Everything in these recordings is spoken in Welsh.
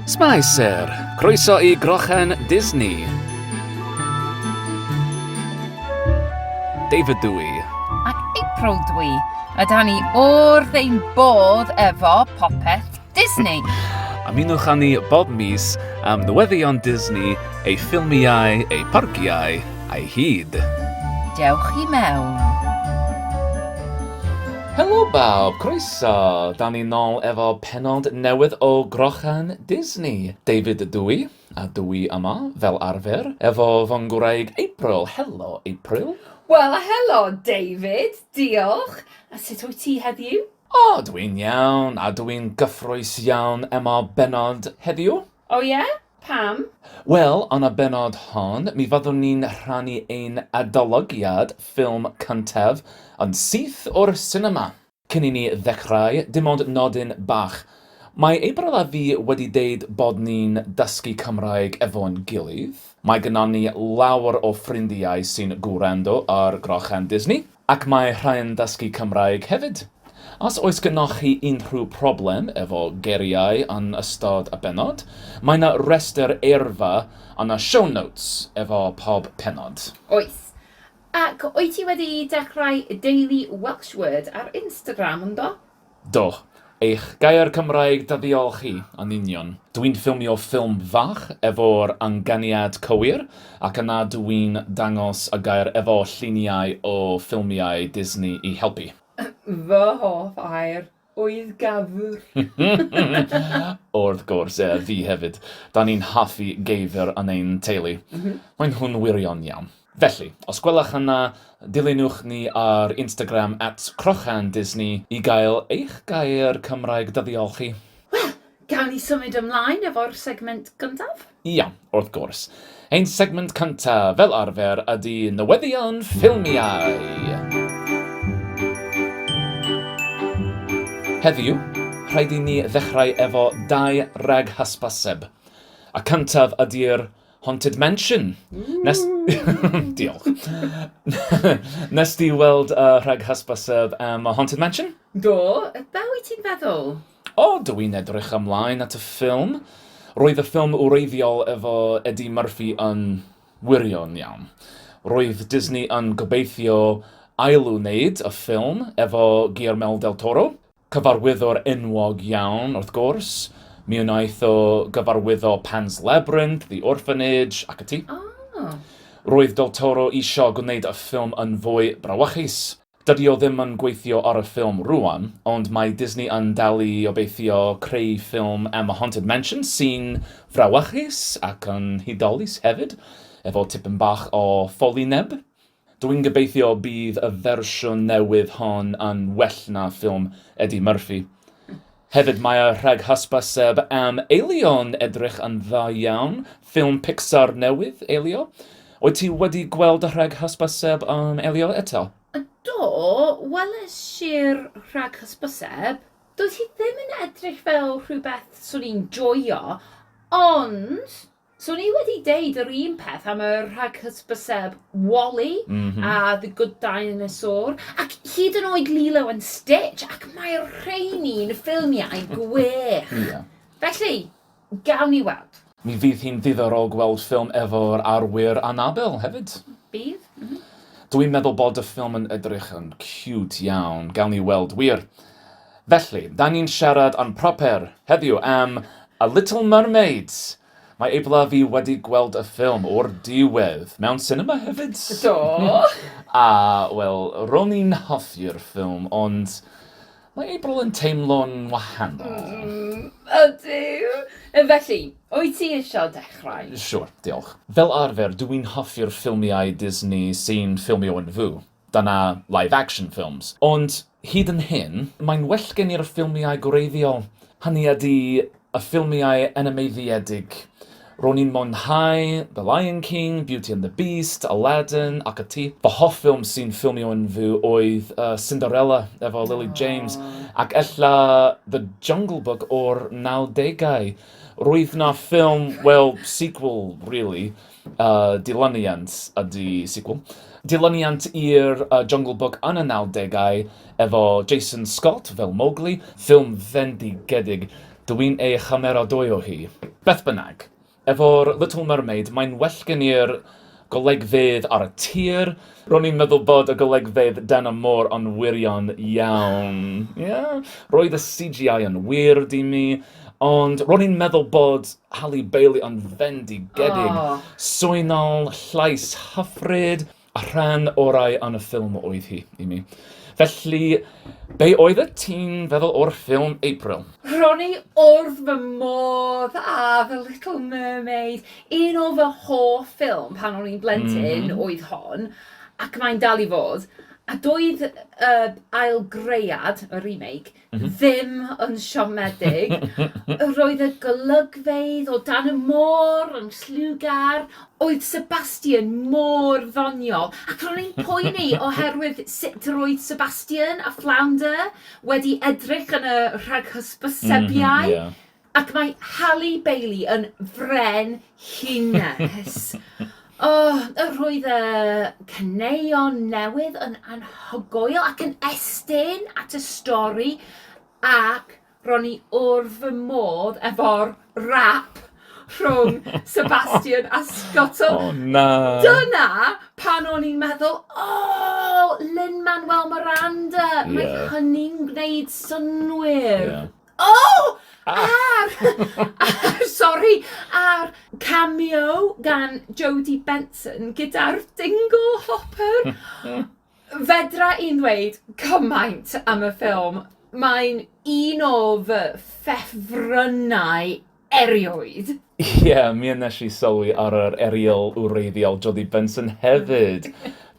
Spicer, croeso i Grochen Disney. David dw i. Ac April dw i. A da ni o'r ein bodd efo popeth Disney. Ymunwch â ni bob mis am newyddion Disney, ei ffilmiau, ei parciau, Ai hyd? Dewch i mewn. Helo bawb, croeso! Da ni nol efo pennod newydd o Grochan Disney. David dw i, a dw i yma, fel arfer, efo fy ngwraig April. Helo, April. Wel a helo, David! Diolch! A sut wyt ti heddiw? O, dw i'n iawn, a dw i'n gyffrous iawn emo bennod heddiw. O ie? Pam? Wel, yn y bennod hon, mi fyddwn ni'n rhannu ein adolygiad ffilm cyntaf yn syth o'r sinema! Cyn i ni ddechrau, dim ond nodyn bach. Mae April a fi wedi deud bod ni'n dysgu Cymraeg efo'n gilydd. Mae gynnon ni lawer o ffrindiau sy'n gwrando ar Grochen Disney. Ac mae rhai'n dysgu Cymraeg hefyd. Os oes gennoch chi unrhyw problem efo geiriau yn ystod y bennod, mae 'na restr eirfa yn y show notes efo pob pennod. Oes. Ac wyt ti wedi dechrau Daily Welsh Word ar Instagram yndo? Do, eich gair Cymraeg da ddiolch chi, yn union. Dwi'n ffilmio ffilm fach efo'r anganiad cywir ac yna dw i'n dangos y gair efo lluniau o ffilmiau Disney i helpu. Fy hoff air oedd gafr! Wrth gwrs, fi hefyd. Da ni'n hoffi geifr yn ein teulu. Maen nhw'n wirion iawn. Felly, os gwelwch yn dda, dilynwch ni ar Instagram at CrochenDisney i gael eich gair Cymraeg dyddiol chi. Wel, gawn ni symud ymlaen efo'r segment gyntaf? Iawn, wrth gwrs. Ein segment cyntaf, fel arfer, ydy Newyddion Ffilmiau! Heddiw, rhaid i ni ddechrau efo dau rag hysbyseb. Y cyntaf ydy'r Haunted Mansion! Nes... Diolch. Nes di weld y uh, rhag hysbyseb am um, Haunted Mansion? Do, be wyt ti'n feddwl? O, oh, dw i'n edrych ymlaen at y ffilm. Roedd y ffilm wreiddiol efo Eddie Murphy yn wirion iawn. Roedd Disney yn gobeithio ailwneud y ffilm efo Guillermo del Toro, Cyfarwyddwr enwog iawn, wrth gwrs. Mi wnaeth o gyfarwyddo Pan's Labyrinth, The Orphanage, ac ati. Ah. Roedd Del Toro isio gwneud y ffilm yn fwy brawychus. Dydy o ddim yn gweithio ar y ffilm rŵan, ond mae Disney yn dal i obeithio creu ffilm am y Haunted Mansion sy'n frawychus ac yn hudolus hefyd, efo tipyn bach o ffolineb. Dw i'n gobeithio bydd y fersiwn newydd hon yn well na ffilm Eddie Murphy. Hefyd mae y rhag hysbys sef am Elio'n edrych yn dda iawn, ffilm Pixar newydd, Elio. Wyt ti wedi gweld y rhag hysbys sef am Elio eto? Do, weles i'r rhag hysbys sef. Doedd hi ddim yn edrych fel rhywbeth swn i'n joio, ond Swn i wedi deud yr un peth am y rhaghysbyseb Wally a The Good Dinosaur, ac hyd yn oed Lilo and Stitch, ac mae rheini'n ffilmiau gwych. Ie. Felly, gawn ni weld. Mi fydd hi'n ddiddorol gweld ffilm efo'r arwyr Annabelle hefyd. Bydd, mhm. Dw i'n meddwl bod y ffilm yn edrych yn ciwt iawn, gawn ni weld wir. Felly, 'da ni'n siarad yn proper heddiw am A Little Mermaid! Mae Eibla fi wedi gweld y ffilm o'r diwedd mewn sinema hefyd! Do! A, wel, ro'n i'n hoffi'r ffilm, ond mae Eibl yn teimlo'n wahanol. Mm, ydy! Felly, wyt ti eisiau dechrau? Siŵr, diolch. Fel arfer, dw i'n hoffi'r ffilmiau Disney sy'n ffilmio yn fyw. Dyna live action films. Ond hyd yn hyn, mae'n well gen i'r ffilmiau gwreiddiol. Hynny ydi, y ffilmiau animeiddiedig. Ro'n i'n mwynhau The Lion King, Beauty and the Beast, Aladdin ac ati. Fy hoff ffilm sy'n ffilmio yn fyw oedd Cinderella efo Lily James, ac ella The Jungle Book o'r nawdegau. Roedd 'na ffilm, wel, sequel, rili, Y dilyniant ydy sequel. Dilyniant i'r Jungle Book yn y nawdegau, efo Jason Scott fel Mowgli. Ffilm fendigedig. Dw i'n ei chymeradwyo hi. Beth bynnag, efo'r Little Mermaid, mae'n well gen i'r golegfeydd ar y tir. Ro'n i'n meddwl bod y golygfeydd dan y môr yn wirion iawn. Ie. Roedd y CGI yn weird i mi, ond ro'n i'n meddwl bod Halle Bailey yn fendigedig. Swynol, llais hyfryd, a rhan orau yn y ffilm oedd hi i mi. Felly, be oeddet ti'n feddwl o'r ffilm, April? Ro'n i wrth fy modd â The Little Mermaid. Un o fy hoff ffilm pan o'n i'n blentyn oedd hon, ac mae'n dal i fod, a doedd y ail gread, y remake, ddim yn siomedig. Roedd y golygfeydd o dan y môr yn lliwgar, oedd Sebastian mor ddoniol, ac ro'n i'n poeni oherwydd sut yr oedd Sebastian a Flounder wedi edrych yn y rhaghysbysebiau. Ac mae Halle Bailey yn fren hines. oh, y rhwydd y caneuon newydd yn anhygoel ac yn estyn at y stori ac ro'n i wrth fy modd efo'r rap rhwng Sebastian a Scott. So, oh, na. Dyna pan o'n i'n meddwl, o, oh, Lin-Manuel Miranda, yeah. mae hynny'n gwneud synwyr. Yeah. O! A'r, a'r, sori, a'r cameo gan Jodie Benson gyda'r dingo hopper. Fedra i'n ddweud cymaint am y ffilm. Mae'n un o fy ffefrynnau. erioed! Ie, mi a wnes i sylwi ar yr erial wreiddiol Jodie Benson hefyd!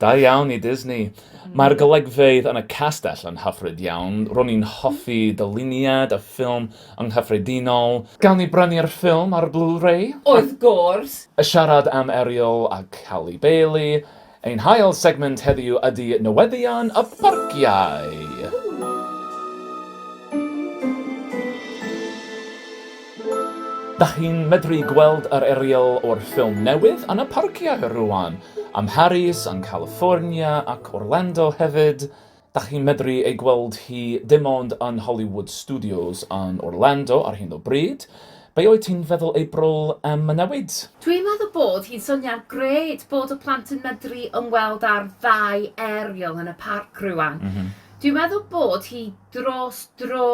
Da iawn i Disney! Mae'r golygfeydd yn y castell yn hyfryd iawn. Ro'n i'n hoffi dyluniad y ffilm yng nghyffredinol. Gawn ni brynu'r ffilm ar Blu-ray? Wrth gwrs! Siarad am Ariel a Halle Bailey, Ein hail segment heddiw ydy newyddion y parciau! Dach chi'n medru gweld yr erial o'r ffilm newydd yn y parciau rŵan, am Harris yn California ac Orlando hefyd. Dach chi'n medru ei gweld hi dim ond yn Hollywood Studios yn Orlando ar hyn o bryd. Be wyt ti'n feddwl ei brol am y newid? Dwi'n meddwl bod hi'n syniad grêt bod y plant yn medru ymweld â'r ddau aerial yn y parc rŵan. Dwi'n meddwl bod hi dros dro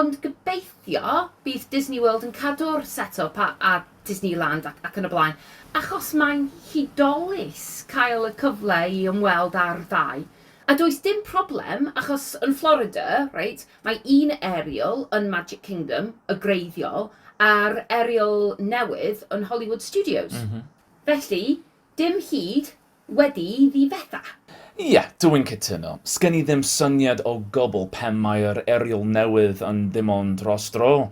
ond gobeithio bydd Disney World yn cadw'r set up a a Disneyland ac ac yn y blaen achos mae'n hudolus cael y cyfle i ymweld â'r ddau. A does dim problem achos yn Florida, reit, mae un Ariel yn Magic Kingdom, y greiddiol, a'r Ariel newydd yn Hollywood Studios. Felly, dim hyd wedi ddifetha. Ie, dw i'n cytuno. Sgen i ddim syniad o gwbl pam mae'r Ariel newydd yn ddim ond dros dro.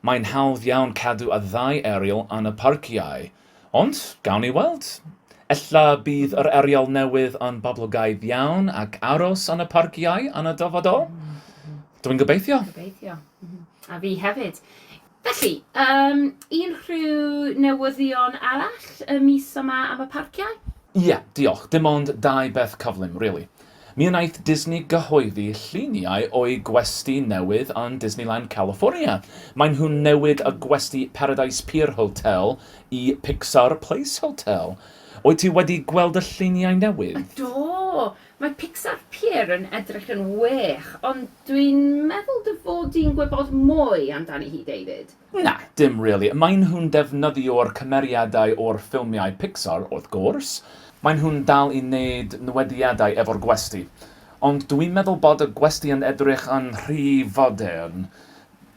Mae'n hawdd iawn cadw y ddau Ariel yn y parciau. Ond, gawn ni weld. Ella bydd yr arial newydd yn boblogaidd iawn ac aros yn y parciau yn y dyfodol? Dw i'n gobeithio. Gobeithio. Mhm. A fi hefyd. Felly, um, unrhyw newyddion arall y mis yma am y parciau? Ie, yeah, diolch. Dim ond dau beth cyflym, really. Mi wnaeth Disney gyhoeddi lluniau o'u gwesty newydd yn Disneyland California. Maen nhw'n newid y gwesty Paradise Pier Hotel i Pixar Place Hotel. Wyt ti wedi gweld y lluniau newydd? Do, mae Pixar Pier yn edrych yn wych, ond dwi'n meddwl dy fod di'n gwybod mwy amdani hi, David. Na, dim rili. Maen nhw'n defnyddio'r cymeriadau o'r ffilmiau Pixar, wrth gwrs. Maen nhw'n dal i wneud newediadau efo'r gwesty. Ond dwi'n meddwl bod y gwesty yn edrych yn rhy fodern.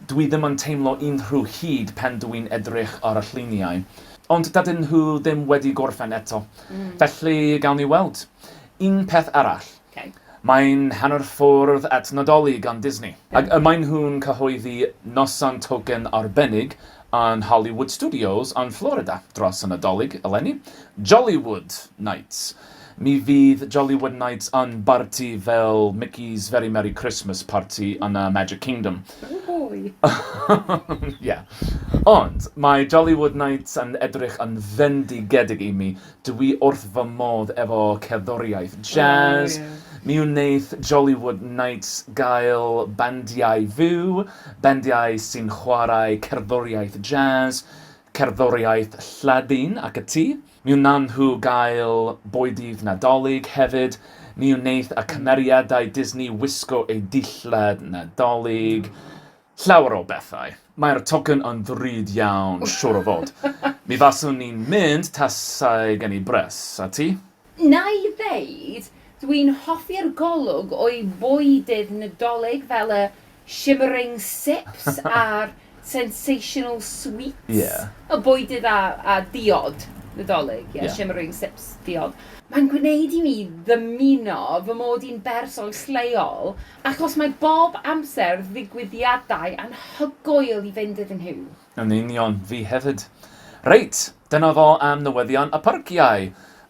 Dwi ddim yn teimlo unrhyw hud pen dw i'n edrych ar y lluniau. Ond dydyn nhw ddim wedi gorffen eto. Felly, gawn ni weld. Un peth arall. Ok. Mae'n hanner ffordd at Nadolig yn Disney. Ac y maen nhw'n cyhoeddi noson token arbennig yn Hollywood Studios yn Florida dros y Nadolig eleni, Jollywood Nights. Mi fydd Jollywood Nights yn barti fel Mickey's Very Merry Christmas Party yn y Magic Kingdom. Wwhoi! Ie. Ond, mae Jollywood Nights yn edrych yn fendigedig i mi. Dw i wrth fy modd efo cerddoriaeth jazz. Mi wneith Jollywood Nights gael bandiau fyw, bandiau sy'n chwarae cerddoriaeth jazz, cerddoriaeth Lladin ac ati. Mi wnawn nhw gael bwydydd Nadolig hefyd. Mi wneith y cymeriadau Disney wisgo eu dillad Nadolig. Llawer o bethau. Mae'r tocyn yn ddrud iawn, siwr o fod. Mi faswn i'n mynd tasai gen i bres. A ti? Na'i ddeud, dwi'n hoffi'r golwg o'i fwydydd Nadolig fel y shimmering sips a'r sensational sweets o bwydydd a diod Nadolig, ie, shimmering sips, diod. Mae'n gwneud i mi ddymuno fy mod i'n berson lleol Achos mae bob amser ddigwyddiadau anhygoel i fynd iddyn nhw. Yn union, fi hefyd. Reit, dyna fo am newyddion y parciau.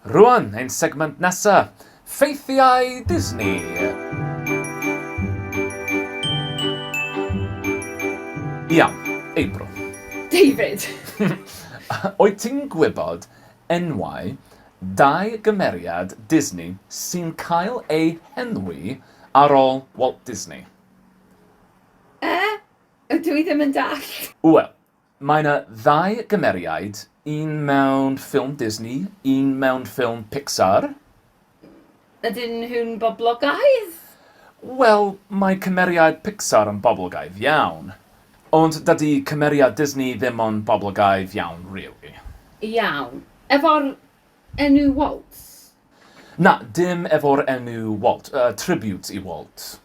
Rŵan, ein segment nesa, ffeithiau Disney! Iawn, April. David! Wyt ti'n gwybod enwau dau gymeriad Disney sy'n cael eu henwi Ar ôl Walt Disney. Eh? Ydw i ddim yn dallt. Wel, mae 'na ddau gymeriaid, un mewn ffilm Disney, un mewn ffilm Pixar. Ydyn nhw'n boblogaidd? Wel, mae cymeriad Pixar yn boblogaidd iawn. Ond dydy cymeriad Disney ddim yn boblogaidd iawn rili. Iawn. Efo'r enw Walt? Na, dim efo'r enw Walt. Yy, tribute i Walt.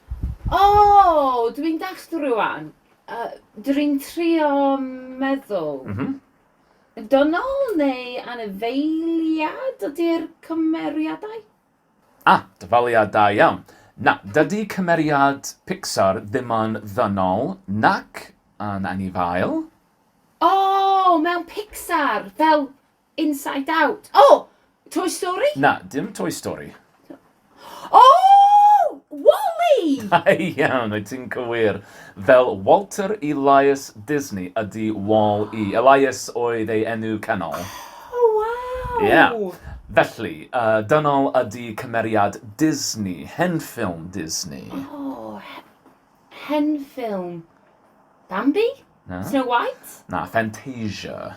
O! Dw i'n dallt rŵan. Yy, dw i'n trio meddwl. M-hm. Dynol neu anifeiliad ydy'r cymeriadau? Ah, dyfaliad da iawn. Na, dydy cymeriad Pixar ddim yn ddynol nac yn anifail. O! Mewn Pixar, fel Inside Out. O! Toy Story? Na, dim Toy Story. O! Wall-E! Da iawn, wyt ti'n cywir. Fel Walter Elias Disney ydy Wall-E. Elias oedd ei enw canol. O, waw! Ie. Felly, dynol ydy cymeriad Disney, hen ffilm Disney. O, hen ffilm. Bambi? Na. Snow White? Na, Fantasia.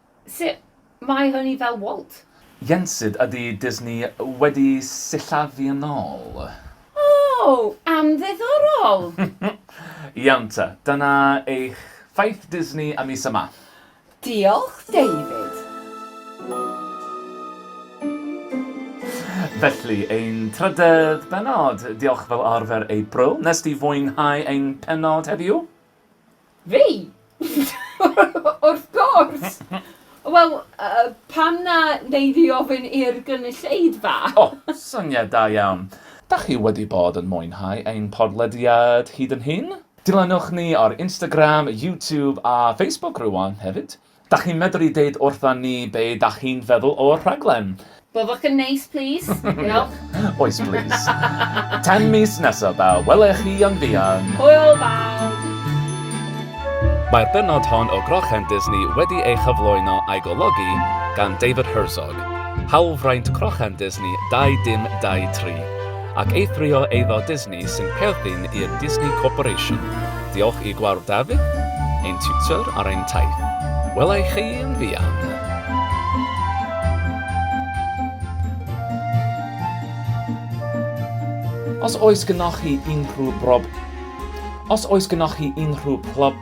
Sut mae hynny fel Walt? Ynsyd, ydy Disney wedi sillafu yn ôl? O! Am ddiddorol! Iawn te, dyna eich ffaith Disney am mis yma. Diolch, David. Felly, ein trydedd bennod. Diolch fel arfer ei Bro. Wnest ti fwynhau ein pennod heddiw? Fi? Wrth gwrs! Wel, yy, pam na wnei di ofyn i'r gynulleidfa? O, syniad da iawn! Dach chi wedi bod yn mwynhau ein podlediad hyd yn hyn? Dilynwch ni ar Instagram, YouTube a Facebook rŵan hefyd. Dach chi'n medru deud wrtha ni be dach chi'n feddwl o'r rhaglen? Byddwch yn neis plis? Diolch. Oes plis. Tan mis nesa ba wele chi yn fuan. Hwyl bawb! Mae'r bennod hon o Grochan Disney wedi ei chyflwyno a'i golygu gan David Herzog, hawlfraint Crochan Disney 2 dim 2 tri, ac eithrio eiddo Disney, Ni sy'n perthyn i'r Disney Corporation. Diolch i Gwawr Dafydd, ein tiwtor ar ein taith. Wela i chi yn fuan! Os oes gynnoch chi unrhyw brob- Os oes gynnoch chi unrhyw plob-